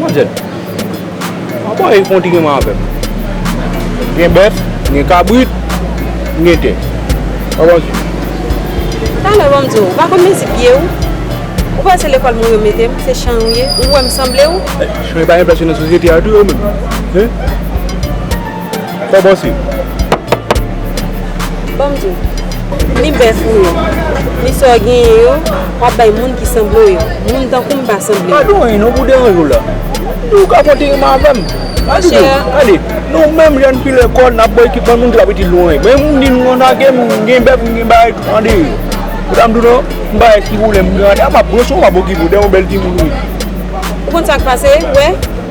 Manzè. Apa e kontinye man avèm. Gen bèf, gen kabrit, gen tè. Apa manzè. Talè banm di ou, ou pa konn mezi pye ou? Ou kwè se lekòl moun yo mete m, se chan ou ye? Ou wè m sanble ou? Chan yo pa enplase nan sosyete a tou yo menm? Hein? Fè bon si. Banm diw. Ni bèf ou yo. Ni sa w genyen yo. Wap bay moun ki sanble w yo. Moun tankou m pa sanble yo. Pa di w anyen non pou deranje w la. Di w ka konte rimen avè m. Mwen di w. Tande. Nou menm jèn fi lekòl nap bay ekipman moun ki pa pitit nou anyen. Men m di nou konsa ke m gen bèf m gen bagay tout ande. Ou ta m di w non. M pa gen ti pwoblèm m gen ande. A map pran swen w map okipe w. Dèyè w bèl timoun ou ye. Ou konn sak pase. Ou wè.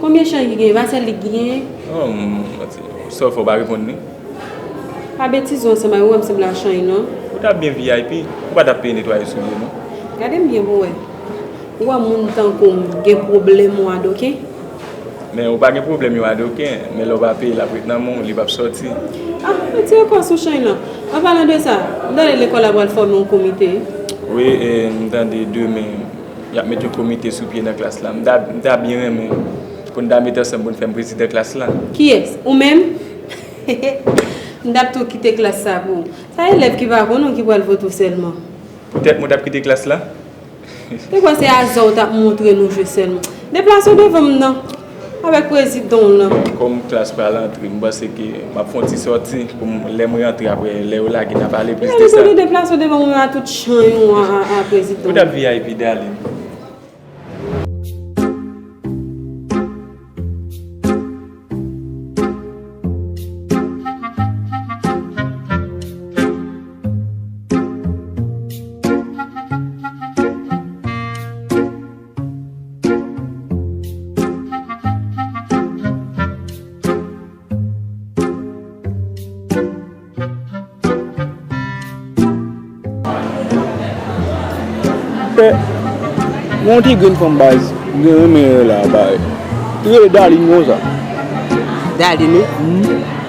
Konbyen cheri ki gen Racel li gen. Oh manti Sof ou pa reponn li. Pa betize w ansanm a yo wè m sanble a chany non. Ou tap byen vip ou pa tap peye netwaye soulye non. Gadem byen pou wè. Ou wè moun tankoum gen pwoblèm ou adoken. Men ou pa gen pwoblèm yo adoken men lè ou pa peye lap ret nan men w li pap sòti. Ah ou tire kòw sou chany lan. An palan de sa m tande lekòl la pral fòme yon komite wi. Wi e m tande demen. Y ap met yon komite sou pye nan klas la. M ta byen renmen pou n ta met ansanm pou n fè m prezidan klas la. Kiyès? Ou menm? Hehe! M t ap tou kite klas sa pou ou. Sa elèv ki pa konn ou ki pral vote ou sèlman? Poutèt mwen t ap kite klas la? Te kwè se aza ou t ap montre nou jwe sèlman. Deplase w devan m nan! Avèk prezidan w lan. Kòm klas pa rantre, m panse ke m ap fè yon ti sòti pou m lè m rantre apre lè yo lage n a pale plis de sa. Eske nou deplase w devan mwen a tout chan yo a prezidan w? Ou t ap vip Darline. Pè, gen yon ti grenn fanm baz m gen renmen la a bare. Li rele Darline konsa. Darline wi? Humm.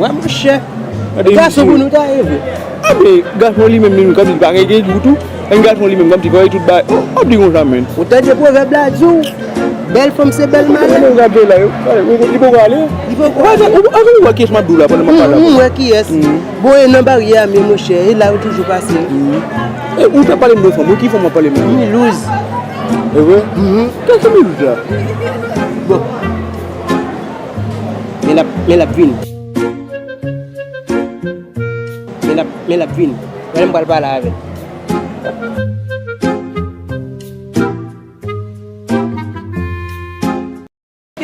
Wè monchè, gason pou nou ta ye vre. Ap di gason li menm li menm kòm si li pa gen gen gou tou. Yon gason li menm kòm si fò li tout ba. Ap di konsa menm. Ou tande pwovèb la di w, bèl fanm se bèl madanm. Gade sa Bella yo. Li poko ale. Li poko ale. Èske ou wè kiyès m ap di w la pandan m ap pale avè w la? M wè kiyès. Bon e nan baryè a menm monchè, e la yo toujou pase. Ou t ap pale m de fanm wi. Ki fanm w ap pale m la? Milouz. E vre? Kiyès ki Milouz la? Bon. Men lap vin. Men lap vin. Gade m pral pale avèl.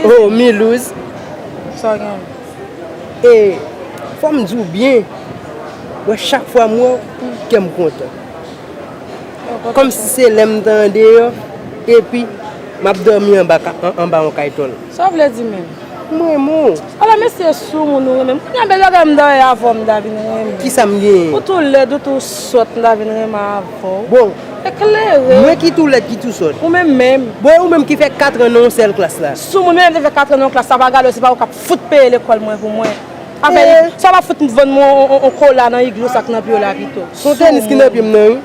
Oh Milouz. Sa gen. E fò m di w byen. Wè chak fwa m wè w, kè m kontan. Kòm si se lè m tande yo. Epi m ap dòmi anba yon kaytòl. Sa w vle di menm? M renmen w. Ala mesye e sou moun ou renmen m. Kounya bèl bagay m dòyè avè w m ta vin renmen w. Kisa m genyen? Ou tou lèd ou tou sòt m ta vin renmen avè w. Bon. Eklere. Mwen ki tou lèd ki tou sòt. Ou menm menm. Bon e ou menm ki fè katran nan yon sèl klas la? Sou moun menm te fè katran nan yon klas sa pa gade w se pa ou k ap fout peye lekòl mwen pou mwen. Afè. Sa w pa fout vann mwen yon kola nan igloo sa k nan pye w la pito. Son tenis ki nan pye m nan wi.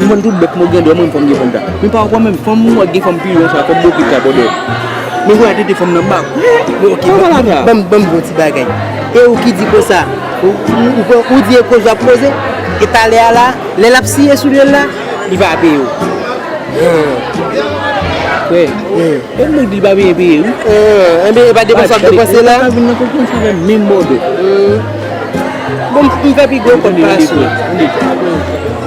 M vann tout bèt mwen gen dwa mwen fanm gen fanm sa men pa wè menm fanm wap gen fanm piyon sa fanm bokit sa bòdè men wè tete fanm nan bak bon ok banm banm bon ti bagay e ou ki di konsa ou di e koze wap koze e talè a la lè lap siye sou dyòl la li pa peye ou frè e mwen di li pa vle peye wi enben epa depanse wap depanse la pa vin nan konferans avèm menm bòdè bon m fè pi gwo kòt pase ou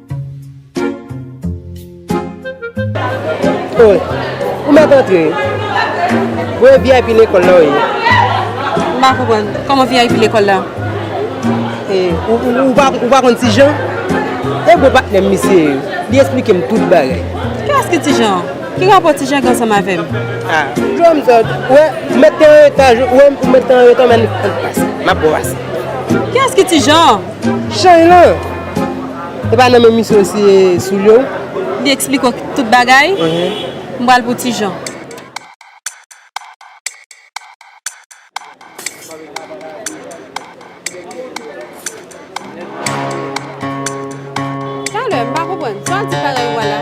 Ou mèt antre? Ou e vip lekòl la ou ye? M pa konprann. Kòman vip lekòl la? Ou pa konn ti Jan? E gwo patnè m misye ye. Li esplike m tout bagay. Kilès ki ti Jan? Ki rapò ti Jan gen ansanm avè m? Dlo m sot. Ou wè m mèt te anreta. Ou wè m mèt te anreta men ann pase. M ap brase. Kilès ki ti Jan? Chany lan, e pa nan men misye ou siye soulye ou? Li eksplike ou tout bagay? M pral pou ti Jan. Talè, m pa konprann. Sa w di pa reywa la?